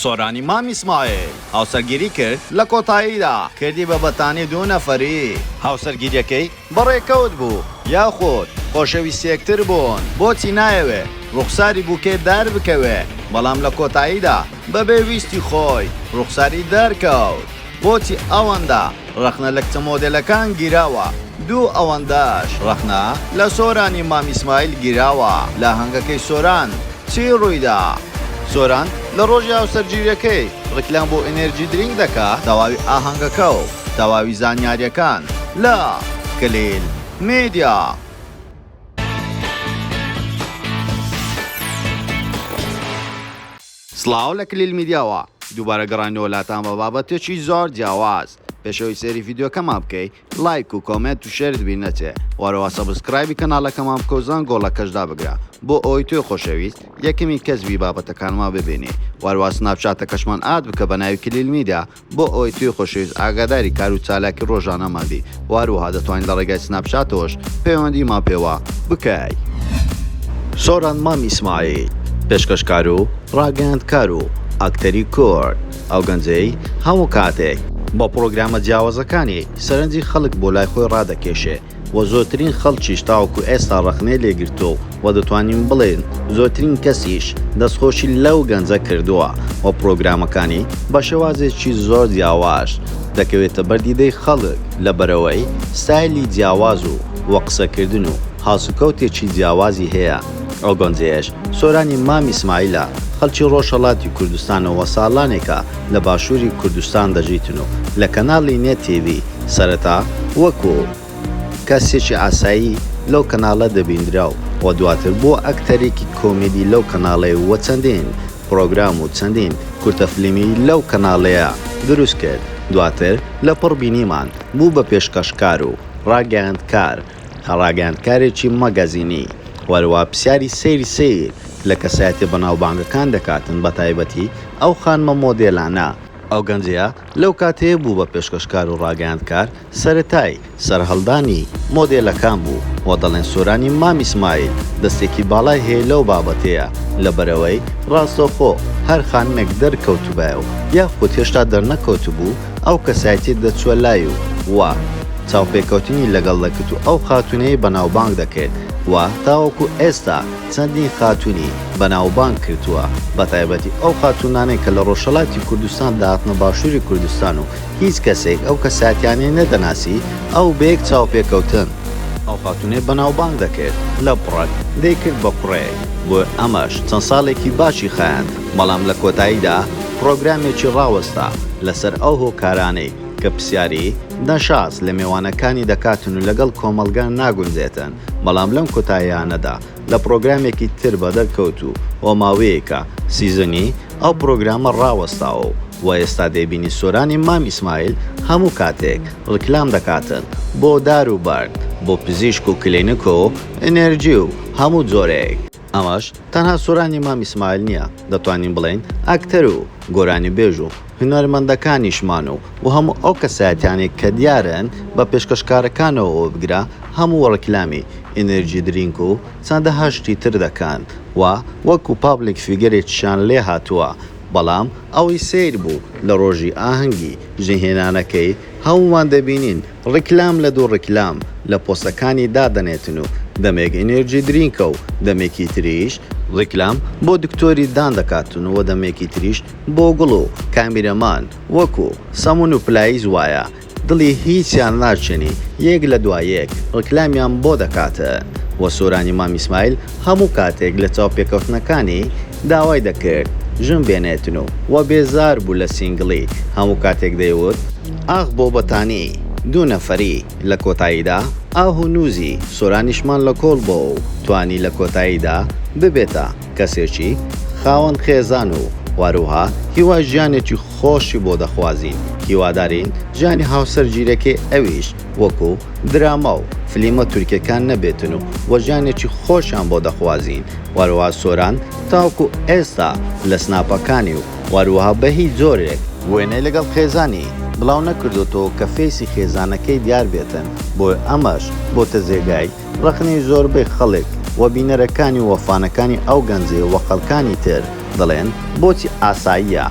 سۆرانی مام ئیسماعیل هاوسەرگیری کرد، لە کۆتاییدا کردی بە بەتانی دوو نەفەری. هاوسەرگیریەکەی بە ڕێکەوت بوو یاخود خۆشەویستی یەکتر بوون بۆچی نایەوێ ڕوخساری بوکێ دەربکەوێ بەڵام لە کۆتاییدا بەبێ ویستی خۆی ڕوخساری دەرکەوت. بۆچی ئەوەندە ڕەخنە لە کچە مۆدێلەکان گیراوە؟ دوو ئەوەندەش ڕەخنە لە سۆرانی مام ئیسماعیل گیراوە لە ئاهەنگەکەی سۆران چی ڕوویدا؟ سۆران لە ڕۆژی هاوسەرگیریەکەی ڕیکلام بۆ ئینێرجی درینک دەکا تەواوی ئاهەنگەکە و تەواوی زانیاریەکان لە، کلیل میدیا. سڵاو لە کلیل میدیاوە، دووبارە گەڕاینەوە لاتان بە بابەتێکی زۆر جیاواز، پێش ئەوەی سەیری ڤیدیۆکەمان بکەی لایک و کۆمێنت و شێرت بیر نەچێ، وەرەوە سەبسکرایبی کەناڵەکەمان بکەو زەنگۆڵەکەش دابگرە بۆ ئەوەی تۆی خۆشەویست یەکەمین کەس بی بابەتەکانمان ببینی، وەرەوە سناپچاتەکەشمان ئاد بکە بە ناوی کلیل میدیا بۆ ئەوەی تۆی خۆشەویست ئاگاداری کار و چالاکی ڕۆژانەمان بی و هەروەها دەتوانی لە ڕێگای سناپچاتەوەش پەیوەندیمان پێوە بکەی. سۆران مام ئیسماعیل، پێشکەشکار و ڕاگەیاندکار و ئەکتەری کورد، ئەو گەنجەی هەموو کاتێک بە پڕۆگرامە جیاوازەکانی سەرنجی خەڵک بۆ لای خۆی ڕادەکێشێ، و زۆرترین خەڵکیش تاوەکو ئێستا ڕەخنەی لێ گرتووە و دەتوانین بڵێین زۆرترین کەسیش دەستخۆشی لەو گەنجە کردووە و پڕۆگرامەکانی بە شێوازێکی زۆر جیاواش دەکەوێتە بەر دیدەی خەڵک لەبەرئەوەی ستایلی جیاواز و و قسەکردن و هەڵسوکەوتێکی جیاوازی هەیە ئەو گەنجەیش سۆرانی مام ئیسماعیلە، خەڵکی ڕۆژهەڵاتی کوردستانە و ساڵانێکە لە باشووری کوردستان دەژیتن و لە کەناڵی نێت تیڤی سەرەتا وەکوو کەسێکی ئاسایی لەو کەناڵە دەبیندرا و دواتر بووە ئەکتەرێکی کۆمیدی لەو کەناڵەی و چەندین پڕۆگرام و چەندین کورتە فلیمی لەو کەناڵەیە دروست کرد دواتر لە پڕ بینیمان بوو بە پێشکەشکار و ڕاگەیاندکار کە ڕاگەیاندکارێکی مەگەزینی وەروا پسیاری سەیری سەیر لە کەسایەتیە بەناوبانگەکان دەکاتن بەتایبەتی ئەو خانمە مۆدێلانە، ئەو گەنجەیە لەو کاتەیە بوو بە پێشکەشکار و ڕاگەیاندکار سەرەتای سەرهەڵدانی مۆدێلەکان بوو و دەڵێن سۆرانی مامی سمایل دەستێکی باڵای هەیە لەو بابەتەیە لەبەرئەوەی ڕاستەوخۆ هەر خانمێک دەرکەوتبایە و یاخود هێشتا دەرنەکەوتبوو ئەو کەسایەتیە دەچوە لای و و چاوپێکەوتنی لەگەڵ دەکرد و ئەو خاتونەی بەناوبانگ دەکرد و تاوەکو ئێستا چەندین خاتونی بەناوبانگ کردوە بەتایبەتی ئەو خاتونانەی کە لە ڕۆژهەلاتی کوردستان دەهاتنە باشوری کوردستان و هیچ کەسێک ئەو کەسایەتیانەی نەدەناسی ئەو بەیەک چاوپێکەوتن ئەو خاتونەی بەناوبانگ دەکرد لە بڕەک دەیکرد بە کوڕێک بۆ ئەمەش چەند ساڵێکی باشی خایاند. بەڵام لە کۆتاییدا پڕۆگرامێکی ڕاوەستا لەسەر ئەو هۆکارانەی کە پسیاری، دەشاس، لە مێوانەکانی دەکاتن و لەگەڵ کۆمەڵگا ناگونجێتن، بەڵام لەم کۆتاییانەدا لە پڕۆگرامێکی تر بەدەر کەوتوو و ماوەیەکە سیزنی ئەو پڕۆگرامە ڕاوەستاوە و وە ئێستا دەیبینی سۆرانی مام ئیسماعیل هەموو کاتێک ڕیکلام دەکاتن بۆ دار و بەرد بۆ پزیشک و کلینک و ئینێرجی و هەموو جۆرێک ئەمەش تەنها سۆرانی مام ئیسماعیل نیە، دەتوانین بڵێین ئەکتەر و گۆرانیبێژ و هونەرمەندەکانیشمان و و هەموو ئەو کەسایەتیانەی کە دیارن بە پێشکەشکارەکانەوە وەبگرە هەموو ڕیکلامی ئینێرجی درینک و چەندەها شتی تر دەکەن و وەکو پابلیک فیگەرێکیشیان لێ هاتووە بەڵام ئەوەی سەیر بوو لە ڕۆژی ئاهەنگی جنێهێنانەکەی هەموومان دەبینین ڕیکلام لە دوو ڕیکلام لە پۆستەکانی دادەنێتن و دەمێک ئینێرجی درینکە و دەمێکی تریش ڕیکلام بۆ دکتۆری دان دەکاتن و دەمێکی تریش بۆ گوڵ و کامیرەمان وەکو سەمون و پلایز وایە دڵی هیچیان ناچێنی یەک لە دوا یەک ڕیکلامیان بۆ دەکاتن و سۆرانی مام ئیسماعیل هەموو کاتێک لە چاوپێکەوتنەکانی داوای دەکرد ژن بێنێتن و وە بێزار بوو لە سینگڵی هەموو کاتێک دەیوت ئاخ بۆ بەتانی دوو نەفەری لە کۆتاییدا ئاه و نوزی سۆرانیشمان لە کۆڵ بۆ و توانی لە کۆتاییدا ببێتە کەسێکی خاوەن خێزان و واروها هیوای ژیانێکی خۆشی بۆ دەخوازین هیوادارین ژیانی هاوسەر گیرەکەی ئەویش وەکو دراما و فلیمە تورکیەکان نەبێتن و وە ژیانێکی خۆشیان بۆ دەخوازین وەروەها سۆران تاوەکو ئێستا لە سناپەکانی و وەروەها بە هیچ جۆرێک وێنەی لەگەڵ خێزانی بڵاو نەکردۆتەوە کە فەیسی خێزانەکەی دیار بێتن بۆیە ئەمەش بۆتە جێگای ڕەخنەی زۆربەی خەڵک وە بینەرەکانی و وە فانەکانی ئەو گەنجەی وە خەڵکانی تر دەڵێن بۆچی ئاساییە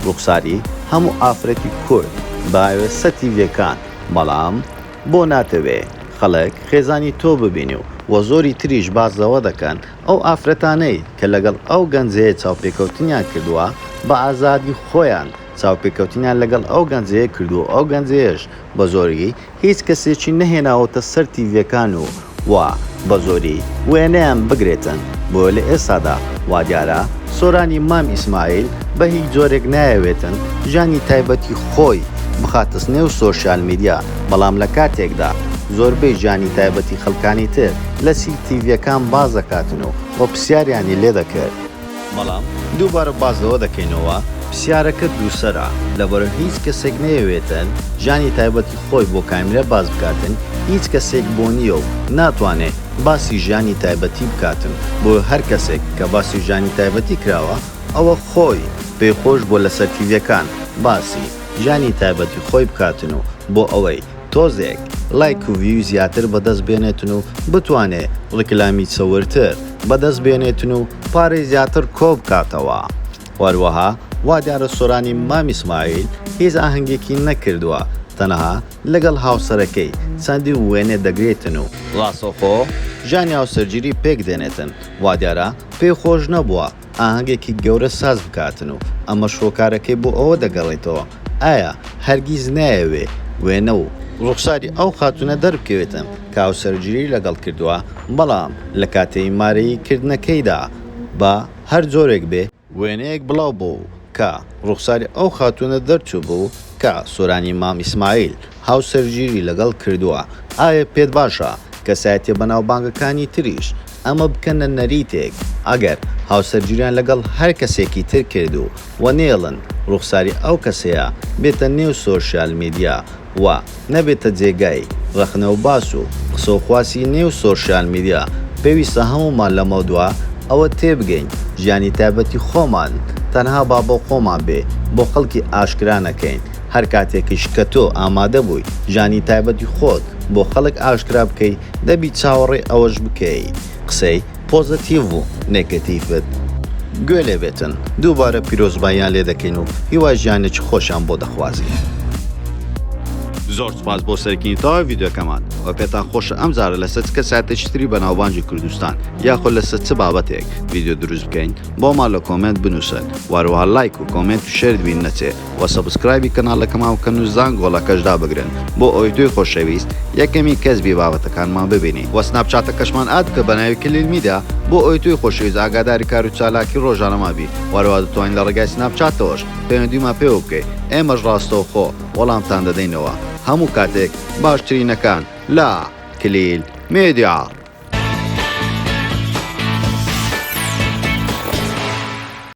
ڕوخساری هەموو ئافرەتی کورد باوێ سەتی لێکان بەڵام بۆ ناتەوێ خەڵک خێزانی تۆ ببینی و وە زۆری تریش باس لەوە دەکەن ئەو ئافرەتانەی کە لەگەڵ ئەو گەنجەیە چاوپێکەوتنیان کردوە بە ئازادی خۆیان چاوپێکەوتنیان لەگەڵ ئەو گەنجەیە کردوە ئەو گەنجەیەش بە زۆری هیچ کەسێکی نەهێناوەتە سەر تیڤیەکان و وا بەزۆری وێنەیان بگرێتن بۆیە لە ئێستادا وادیارە سۆرانی مام ئیسماعیل بە هیچ جۆرێک نایەوێتن ژیانی تایبەتی خۆی بخاتس نێو سۆشیال میدیا بەڵام لە کاتێکدا زۆربەی ژیانی تایبەتی خەلکانی تر لە سیل تیڤیەکان باس دەکاتن و وە پسیاریانی لێ دەکرد بەڵام دووبارە باس لەوە دەکەینەوە پرسیارەکە دووسەرە، لەبەرو هیچ کەسێک نەیەوێتن ژیانی تایبەتی خۆی بۆ کامیرا باس بکاتن، هیچ کەسێک بۆ نیە و ناتوانێ باسی ژیانی تایبەتی بکاتن، بۆیە هەر کەسێک کە باسی ژیانی تایبەتی کراوە ئەوە خۆی پێی خۆش بووە لەسەر تیڤیەکان باسی ژیانی تایبەتی خۆی بکاتن و بۆ ئەوەی تۆزێک ڵایک و ڤیوی زیاتر بەدەست بێنێتن و بتوانێ ڕیکلامی چەورتر بەدەست بێنێتن و پارەی زیاتر کۆ بکاتەوە وەروەها وادیارە سۆرانی مامی سمایل هیچ ئاهەنگێکی نەکردوە تەنها لەگەڵ هاوسەرەکەی چەندین وێنە دەگرێتن و ڕاستەوخۆ ژانی هاوسەرگیری پێک دێنێتن وادیارە پێی خۆش نەبوە ئاهەنگێکی گەورە ساز بکاتن و ئەمەش هۆکارەکەی بۆ ئەوە دەگەڕیتەوە ئایا هەرگیز نایەوێ وێنە و ڕوخساری ئەو خاتوونە دەربکەوێتن کە هاوسەرگیری لەگەڵ کردووە بەڵام لە کاتەی مارەیی کردنەکەیدا بە هەر جۆرێک بێ وێنەیەک بڵاو بۆ کە ڕوخساری ئەو خاتوونە دەرچووبوو کە سۆرانی مام ئیسماعیل هاوسەرگیری لەگەڵ کردووە، ئایا پێت باشە کەسایەتیە بەناوبانگەکانی تریش ئەمە بکەنە نەریتێک ئەگەر هاوسەرگیریان لەگەڵ هەر کەسێکی تر کردوو و نێڵن ڕوخساری ئەو کەسەیە بێتە نێو سۆشیال میدیا و نەبێتە جێگای ڕەخنە و باس و قسە و خواسی نێو سۆشیال میدیا، پێویستە هەموومان لەمەودوا ئەوە تێبگەین ژیانی تایبەتی خۆمان تەنها با بۆ خۆمان بێ بۆ خەڵکی ئاشکرا نەکەین، هەر کاتێکیش کە تۆ ئامادە بووی ژیانی تایبەتی خۆت بۆ خەڵک ئاشکرا بکەی دەبی چاوەڕێی ئەوەش بکەی قسەی. پۆزەتیڤ و نێگەتیڤت گوێ لێ بێتن دووبارە پیرۆزباییان لێ دەکەین و هیوای ژیانێکی خۆشیان بۆ دەخوازین. زۆر سوپاس بۆ سەرکینی تەواوی ڤیدیۆکەمان وە پێتان خۆشە ئەم جارە لەسەر چ کەسایەتێکی تری بەناوبانگی کوردستان یاخۆ لەسەر چ بابەتێک ڤیدیۆ دروست بکەین بۆمان لە کۆمێنت بنووسن وەروەها لایک و کۆمێنت و شێرت بیر نەچێ وە سەبسکرایبی کەناڵەکەمان بکەن و زانگۆڵەکەش دابگرن بۆ ئەوەی تۆی خۆشەویست یەکەمین کەس بی بابەتەکانمان ببینی وە سناپچاتەکەشمان ئاد بکە بەناوی کلیل میدیا بۆ ئەوەی تۆی خۆشەویست ئاگاداری کارو چالاکی ڕۆژانەمان بی وە هەروە دەتوانی لە ڕێگای سناپچاتەوەش پەیوەندیمان پێوە بکەی ئێمەش ڕاستەوخۆ وەڵامتان دەدەینەوە هەموو کاتێک باشترینەکان لە کلیل میدیا.